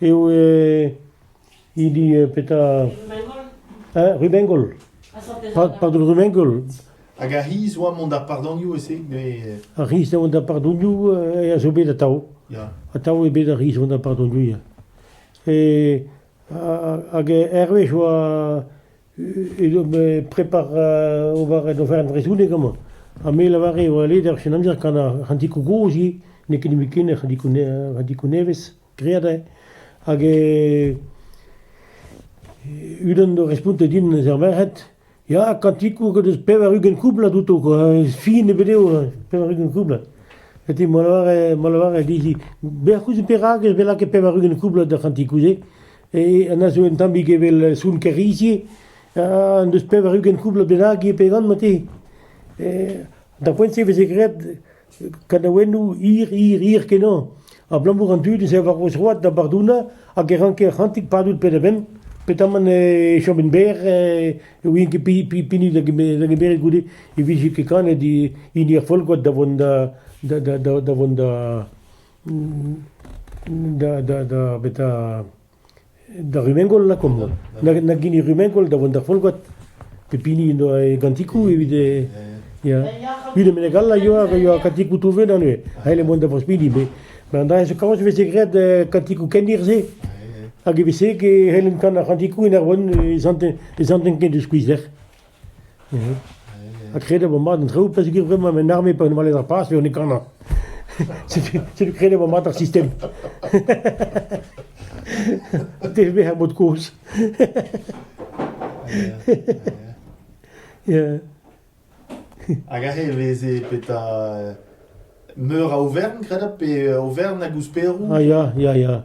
eo hini petra Rubengol. Pardon, Rubengol. Hag ar c'hiz oa mont d'ar pardonioù ese dre... Ar c'hiz oa d'ar pardonioù a zo bet atav. Atav eo bet ar c'hiz oa d'ar pardonioù. E, hag hervez oa e prepar ober en ofer en vrezhoneg amañ. Ha me lavare oa led ar sin amzer kan ar c'hantikou gozhi n'eo ket nemet ken ar c'hantikou nevez. Graet eo hag unan zo respontet din eus ar merc'hed ya kantikoù o deus pevar-ugent koublad outo kwa, fin ebet eo pevar-ugent koublad. Gete ma lavare ma lavare dizhi bec'h ouzh perak ez bet lakaet pevar-ugent koublad d'ar c'hantikoù-se e an a zo un tammig evel soun kerizi en deus pevar-ugent koublad bennak eo pe gant ma te. Da poent-se e veze graet Kanaouennoù hir-hir-hir-kenañ abalamour an dud ez eo war o zroad da bardouna hag e ranker c'hantik padout penn-ha-penn petamant e chomin berr e ouien ket pinig da gemeret goude e vije ket kanet hini ar folgoad da vont da da da da vont da da da da betra... Da rummengol lakaomp holl. Nag hini rummengol da vont d'ar folgoad. Pep hini en doa e gantikoù evit e... Ya. Tud menek all a yoa, a yoa kantikoù touvet da neuze. Aet mont da Brospili. Mais an dra zo kaoz e veze graet kantikoù kendir-se. Hag e veze e c'hellen kan ar c'hantikoù en ar vont e zanten ken de skuizder. Ha kredet vo mat an traoù pa zegouezh vremañ en arme pa on o welet ar paz pe on e kanañ. Setu kredet vo mat ar sistem. TVB ar mod kozh. Ya. Hag aze e veze petra meur a Aovern, kredab, pe Aovern hag ouzh Perou? Ah ya, ya, ya.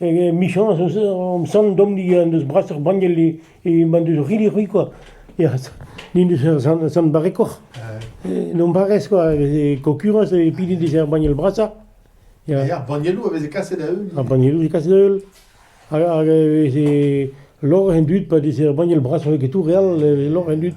hag emichañs eus hom sant Domnig en deus brasoc'h banniel m'en deus rilli c'hwi kwa. N'en deus ur sant, sant barrekoc'h. En hon barrez kwa, e veze kokurans e pide dezhe ar banniel brasañ. Ar bannieloù a veze kaset da-heul. Ar bannieloù a veze kaset da-heul. Hag e veze lor en dud pa deze ar banniel brasañ ket tout re all, e veze lor en dud.